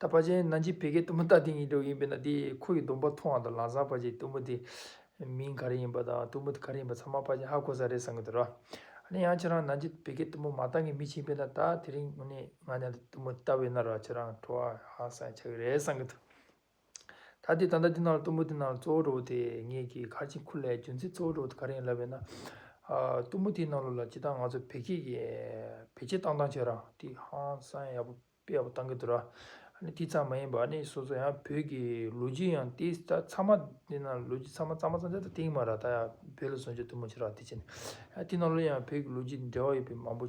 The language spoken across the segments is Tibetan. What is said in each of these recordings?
ད་ཕ་ཆེན་ན་འཇིགས་བད་ཀའི་གཏུམ་མོ་ལྟ་དེ་ཉིད་འགྲོ་ཡིན་པས་ན་དེས་ཁོ་ཡི་སྡོམ་པ་མཐོང་བ་དང་ལང་བཟང་ཕ་ཆེན་གཏུམ་མོ་དེ་མིང་ག་རེ་ཡིན་པ་དང་གཏུམ་མོ་དེ་ག་རེ་ཡིན་པ་ཚང་མ་ཕ་ཆེན་ཧ་གོ་ས་རེད་བསམ་གྱི་འདུག་ར་ནི་ཡང་ཁྱེད་རང་ན་འཇིགས་བད་ཀའི་གཏུམ་མོ་མ་ལྟ་ངས་མི་ཕྱིན་པས་ན་ད་དེ་རིང་ནས་ང་ནི་གཏུམ་མོ་ལྟ་བས་ན་ར་ཁྱེད་རང་ཁྲོ་བ་ཧ་སངས་ཆགས་ཀྱི་རེད་བསམ་གྱི་འདུག། ད་དེ་ད་ལྟ་འདི་ནང་ལ་གཏུམ་མོ་འདི་ནང་ལ་གཙོ་བོ་རོ་དེ་ངེད་ཀྱིས་གར་ཆེན་ཁུར་ལས་རྒྱུ་མཚན་གཙོ་བོ་རོ་དེ་ག་རེ་ཡིན་ལབ་པས་ན། གཏུམ་མོ་དེའི་ནང་ལོ་ལ་ཇི་ལྟར་ང་ཚོ་བེད་སྐྱེད་ཀྱི་བེད་སྐྱེད་བཏང་བཏང་བྱས་རང་དེ་ཧང་སང་ཡག་པོ་དཔེ་ཡག་པོ་བཏང་གི་འདུག་ར། དེ་ཙམ་མ་ཡིན་པ་ནི་སོ་སོ་ཡང་བོད་ཀྱི་ལོ་རྒྱུས་ཡང་དེ་ད་ཚང་མ་འདི་ནང་ལོ་རྒྱུས་ཚང་མ་གཙང་མ་གཙང་ཆ་ད་དེང་མ་ར་ད་ཡང་བོད་ལ་བཟུང་བྱས་གཏུམ་མོ་བྱས་ར་དེ་བྱས་ནས། དེ་ནང་ལོ་ཡང་བོད་ཀྱི་ལོ་རྒྱུས་འབྲེལ་བ་ཡོད་པའི་མང་པོ།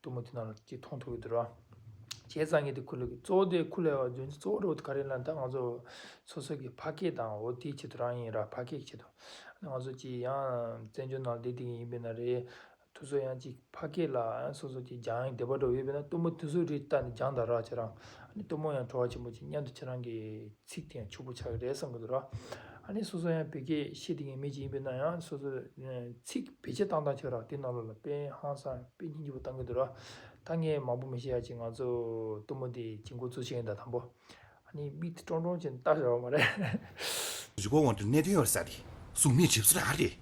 གཏུམ་མོ་དེ་རྣམས་ཀྱིས་མཐོང་ཐུབ་ཡོད་དོ། བྱས་ཙང་ངེད་དེ་ཁུ་ལུ་གི་གཙོ་བོ་དེ་ཁུ་ལའི་བ་རྫུན་གྱི་གཙོ་བོ་རེད་བ་ག་རེ་ན་ད་ང་ཚོ་སོ་སོ་གི་ཕ་སྐད་དང་བོ་དེའི་ཆེད་དུ་རང་ཡིན་ར་ཕ་སྐད་ཀྱི་ཆེད་དུ་ང་ཚོ་གཅིག་ཡང་བཙན་བྱོལ་ནང་བསྡད་དེ་ཡིན་པས་ན་རེད་དུ་སོ་ཡང་གཅིག་ཕ་སྐད་ལ་སོ་སོ་གཅིག་སྦྱང་ཡང་དེ་བ་འགྲོ་བ་ཡོད་པས་ན་གཏུམ་མོ་དེ་སུ་རེད་ལྟ་ནས་སྦྱང་དང་ར་བྱེད་རང་གཏུམ་མོ་ཡང་བྲོ་བ་ཆེན་པོ་གཅིག་མཉམ་དུ་ཁྱེད་རང་གི། ཚིག་དེ་ཡང་ཕྱུག་པོ་ཆགས་ཀྱི་རེད་བསམ་གྱི་འདུག་ར། ཨ་ནི་སོ་སོ་ཡང་བོད་སྐད་བཤད་ཐུབ་མཁན་མེད་ཅིག་ཡིན་པའི་ན་ཡང་སོ་སོ་ཚིག་བེད་སྤྱད་བཏང་བཏང་ཆོག་ར་དེ་ནང་ལོག་ལ་དཔེ་ཧང་སང་དཔེ་སྙིང་རྗེ་བོ་བཏང་གྱི་འདུག་ར། ད་ངས་མང་པོ་མི་བཤད་ཡ་ཅིག་ང་ཚོ་གཏུམ་མོ་དེ་གྱི་འགོ་བཙུགས་ཆེད་ཡིན་ད་དང་པོ། ཨ་ནི་མིག་དེ་ཀྲོང་ཀྲོང་ཅན་བལྟ་ཞར་བ་མ་རེད། རི་བོ་དབང་དུ་གནས་དོན་ཡོད་རེད་ས་དེ་གཟུགས་མེད་གྲིབ་བསིལ་ར་རེད།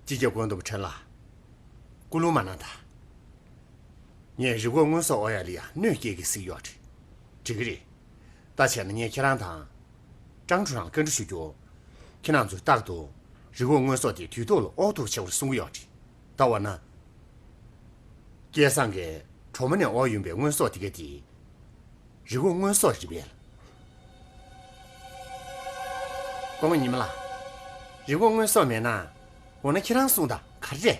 སྤྱི་རྒྱ་དགོན་དུ་ཕྲན་ལ་སྐུ་ལུང་མ་གནང་ད། ངས་རི་བོ་དངོས་ཟོག་ཨོ་ཡ་ལི་ཡ་གནོད་སྐྱེལ་གྱི་གཟིགས་ཡོད་རེད། འགྲིག་གི་རེད། ལྟ་བྱས་ན་ངས་ཁྱེད་རང་དང། ཀྲང་ཀྲུའུ་རང་བཀའ་འདྲི་ཞུ་རྒྱུ། ཁྱེད་རང་ཚོས་རྟག་ཏུ། རི་བོ་དངོས་ཟོག་དེ་དུས་ཐོག་ལ་ཨོག་ཐུག་བྱེད་པར་གསུང་གི་ཡོད་རེད། ད་འོ་ན། སྐལ་བཟང་གིས་གྲོ་མོ་ནས་ཨོག་ཡོང་པའི་དངོས་ཟོག་དེ་ག་དེ། རི་བོ་དངོས་ཟོག་རེད་བས། ཀོང་ཉི་མ་ལགས། རི་བོ་དངོས་ཟོག་མེད་ན། འོ་ན་ཁྱེད་རང་གསུང་དང་ག་རེ་རེད།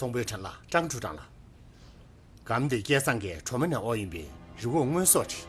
སོང་པོའི་བྲན་ལ་སྤྲང་ཕྲུག་བྲང་ལ། སྒམ་དེ་སྐལ་བཟང་གི་གྲོ་མ་ནས་ཨོག་ཡིན་པས་རི་བོ་སྔོན་སོགས་བྲིས།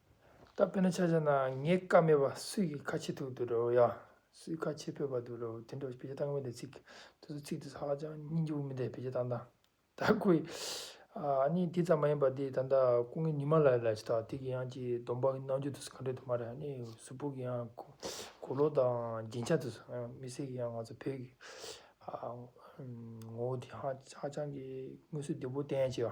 ད་དཔེར་ན་ཆ་བྱས་ན་ངའི་བཀའ་མེད་པ་སུས་ཀྱིས་ཁ་ཕྱེ་ཐུབ་འདུག་ཡ། སུས་ཁ་ཕྱེ་ཕོད་པ་འདུག་དེ་འདྲ་བའི་བེད་སྤྱོད་གཏང་གི་མེད་དེ་ཚིག་དེ་ཚོ་ཚིག་དེ་ཚོ་ཧ་ཅང་སྙིང་རྗེ་བོ་མིན་ཏེ་བེད་སྤྱོད་གཏང་སྟངས་ད་ཁོས། གཉིས་དེ་ཙམ་མ་ཡིན་པ་དེ་ད་ལྟ་སྐུ་ངལ་ཉི་མ་ལ་ལ་ཞིག་དང་དེ་གི་ཡང་ཀྱི་སྡོམ་པ་གནང་རྒྱུ་དེ་ཚོ་ག་འདྲ་དུ་མ་རེད་ནི་གཟུ་བོ་གི་ཡང་གོ་ལོག་དང་རྒྱན་ཆ་དེ་ཚོ་མི་སེར་གི་ཡང་ང་ཚོ་བོད་ཀྱི་ངོ་བོ་དེ་ཧ་ཧ་ཅང་གི་སྔུན་བསུ་བདེ་བོ་བསྟན་ཡ་བྱས་པ།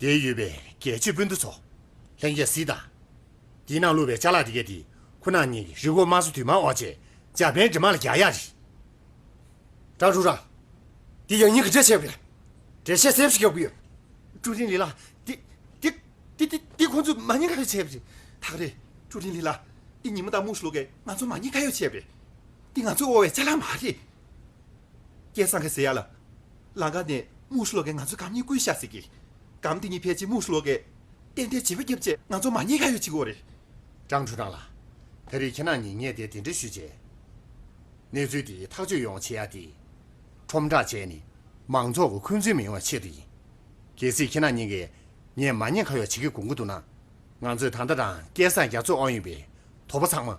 དེ་ཡོད་པའི་རྒྱལ་གཅེས་སྤུན་ཟླ་ཚོ། ལྷན་རྒྱས་གཟིགས་དང། འདི་ནང་བླུགས་པའི་བཅའ་ལག་དེ་གའི་དེ་ཁོ་ན་ཉིད་རི་འགོ་དམར་སྲུ་དུས་མ་འོག་བཅས་འཇར་པན་འབྲི་མ་ལ་རྒྱ་ཡག་རི། ཀྲང་ཧྲུའུ་རང། འདི་ཡང་ཉིད་ཀྱི་འགྲེལ་བཤད་ཡོད་པས་འགྲེལ་བཤད་གསལ་པོ་ཞིག་ཡོད་དགོས་ཡོད། ཀྲུའུ་རིན་ལི་ལགས་འདི་འདི་འདི་འདི་འདི་ཁོང་ཚོས་མ་ཉེས་ཁ་ཡོད་བྱས་པ་རེད། ཐག་རེད་ཀྲུའུ་རིན་ལི་ལགས་འདི་ཉིན་མོ་དང་མུག་སློག་གས་ང་ཚོ་མ་ཉེས་ཁ་ཡོད་བྱས་པ་རེད། འདི་ང་ཚོའི་དབོར་བའི་བཅའ་ལག་མ་རེད། སྐལ་བཟང་ཁ་ཟེར་ཡག་ལ། ལང་ཀ་ནས་དམུ་སུ་ལོ་ཀས་ང་ཚོའི་གམ་གཉིས་ཀུན་བཤའ་ཟེར་གི། གམ་དེ་གཉིས་ཕལ་ཆེར་དམུ་སུ་ལོ་ཀས། གཏན་བདེའི་བྱིས་པ་སྐྱེ་བ་བཅས་ང་ཚོ་མ་ཉེས་ཁ་ཡོད་ཅིག་གོ་རེད། ཀྲང་ཁྲུན་ཀྲང་ལགས། ད་རེས་ཁྱེད་རང་གཉིས་ངས་དེ་དེ་འདྲ་ཞུས་རྗེས། གནས་ཚུལ་དེ་ཐག་གཅོད་ཡོང་བྱེད་ཡ་དེ། ཁྲོམ་བསྒྲགས་བྱས་ནས་མང་ཚོགས་ཀྱི་འཁོན་རྩོད་མི་ཡོང་བའི་ཆེད་དུ་ཡིན། གལ་སྲིད་ཁྱེད་རང་གཉིས་ཀས་ངས་མ་ཉེས་ཁ་ཡོག་བྱེད་ཀྱི་དགོངས་ཀྱི་འདུག་ན། ང་ཚོས་ད་ལྟ་རང་སྐལ་བཟང་རྒྱ་མཚོ་དབང་ཡོད་པའི་དོགས་པ་ཚང་མ།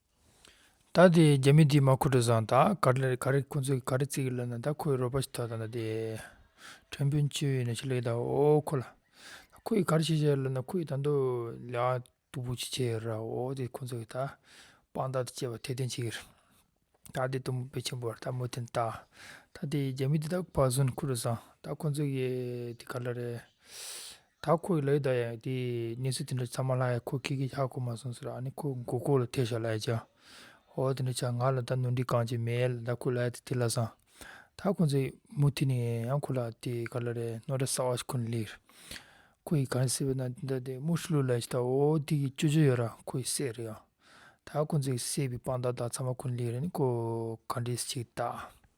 ད་དེ་རྒྱ་མི་དེ་མ་ཁུ་དྲོ་བཟང་དང་ག་རེ་ག་རེ་ཁོང་ཚོ་ག་རེ་ཚིག་ལབ་ན་ད་ཁོའི་རོ་པ་ཞིག་ཐོག་དང་ད་དེ། ཁྲེན་པུན་ཆོས་ཡིན་ན་ཆེ་ལེགས་དང་འོ་ཁོ་ལ། ད་ཁོ་ཡི་ག་རེ་བྱས་བྱས་ལབ་ན་ཁོ་ཡི་ད་མདོ་ལས་ཨ་སྟུག་པོ་ཆེ་ཆེ་ར་འོ་དེ་ཁོང་ཚོ་གི་ད། དཔང་རྟགས་དེ་བཅས་པ་ཐེར་འདོན་བྱེད་ཀྱི་རེད། ད་དེ་གཏུམ་པོ་དཔེ་ཆེན་པོ་བ་ད་མུ་དྷི་ནི་ད། ད་དེ་རྒྱ་མི་དེ་ད་བག་ཟོན་ཁུ་དྲོ་བཟང་ད་ཁོང་ཚོ་གི་དེ་ག་ལ་རེད། ད་ཁོ་ཡི་ལག་གི་ད་ཡ་དེ་གནས་ཚུལ་དེ་འདྲ་ཚང་མ་ལྷ་ཡ་ཁོ་ཁེ་ཁེ་ཤག་ཁོ་མ་སོང་ཟེར་ཨ་ནི་ཁོ་མགོ་ཁོག་ལ་ཐེ་ཞག་ལ་ཡ་ཅང་ཨོ་དེ་འདྲ་ཆག་ང་ལ་ད་ནོར་འདྲི་གང་ཅི་མེད་ད་ཁོ་ལ་ཡ་དེ་ཐེ་ལ་སང་ད་ཁོ་ཚོ་མུ་ཐི་ནས་ཡང་ཁོ་ལ་དེ་ག་ལ་རེད་ནོར་འདྲ་ཟ་བ་ཞིག་ཁོ་ནས་ལེགས་ཁོ་ཡི་གང་ཟེར་བའི་ན་དེ་འདྲ་དེ་དམུ་ཧྲི་ལུ་ལ་ཞིག་ད་ཨོ་དེ་གི་ཅོ་ཅོ་ཡོད་ར་ཁོ་ཡི་སྲས་རེད་ཡང་ད་ཁོ་ཚོ་གི་སྲས་པའི་དཔང་རྟགས་དག་ཚང་མ་ཁོ་ནས་ལེགས་རེད་ནི་ཁོ་ག་འདྲས་ཤིག་ད།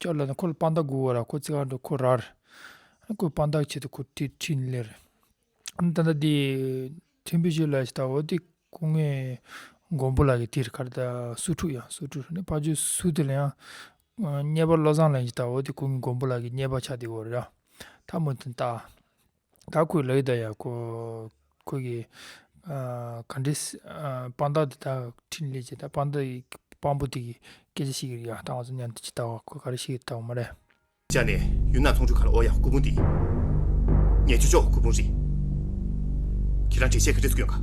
ལྕགས་ལ་ཁོ་ལ་དཔང་རྟགས་དགོས་བར་ཁོ་ཚེ་གང་དུ་ཁོ་རར། ཁོའི་དཔང་རྟགས་ཆེད་དུ་ཁོ་ཁྲིད་ཕྲིན་ལས། ད་ལྟ་དེ་ཕྲན་བུ་ཞིག་ལ་ཞིག་དང་བོ་དེ་སྐུ་ངལ་མགོན་པོ་ལ་ཡི་དེར་ཁར་ད་སུ་ཕྲུག་ཡང་སུ་ཕྲུག་ནི་ཕ་ཆོས་སུ་དེ་ལ་ཡང། རྙེད་པ་བློ་བཟང་ལ་ཡི་དང་བོ་དེ་སྐུ་ངལ་མགོན་པོ་ལ་གི་རྙེད་པ་ཆ་དེ་བོར་ཡང། ཐ་མོ་དེ་ད། ད་ཁོས་ལབ་ཡོད་ད་ཡང་ཁོས་གི་ག་འདྲའི་དཔང་རྟགས་འདི་དག་འཕྲིན་ལས་བྱས་ད་དཔང་རྟགས་ཡི་དཔང་པོ་དེ་གི་སྐད་ཆ་ཞིག་གི་ཡང་བཏང་བ་སོང་ཉན་ཏེ་ཇི་ལྟ་བ་ཁོས་ག་རེ་བཤད་ཡོད་ད་བ་མ་རེད། ཅག་ནས་ཡུལ་ནག་ཚོང་ཆུ་ཁར་ཨོ་ཡ་སྐུ་ཕུང་འདི། ངས་ཆུ་ཕྱོགས་སྐུ་ཕུང་རེད། ཁྱེད་རང་བྲེལ་བཤད་གི་རེད་ཟུག་ཡོང་ག།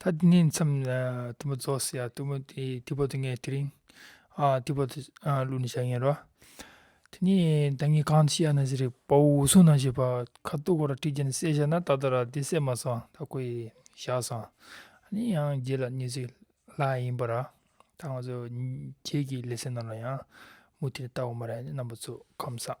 ད་འདི་ནས་མཚམས་དུམ་བུ་རྫོགས་སོ་ཡ་དུམ་བུ་དེ་དེ་བོ་དེ་ངས་དེ་རིང་ཨ་དེ་བོ་དེ་བླུགས་ནས་བཞག་ཡིན་རོ། དེ་ནས་ད་ངས་གང་བྱས་ཡ་ན་ཟེར་རེད་བ་འུ་གསུང་ན་ཞེས་པ་ཁ་སྟུག་གོ་ར་ཁྲིད་ཀྱིན་བསད་བཞག་ན་ད་ལྟ་ར་དེ་བསད་མ་སོང་ད་ཁོ་ཡི་བཞག་སོང་ནི་ཡང་རྗེས་ལ་ནི་ཟིག་ལ་ཡིན་པ་ར་ད་ང་ཚོ་ཁྱེད་ཀྱི་ལས་སེ་ན་ལ་ཡང་མུ་མཐུད་ལྟ་བ་མ་ར་ནི་རྣམ་པ་ཚོ་ཁམས་བཟང།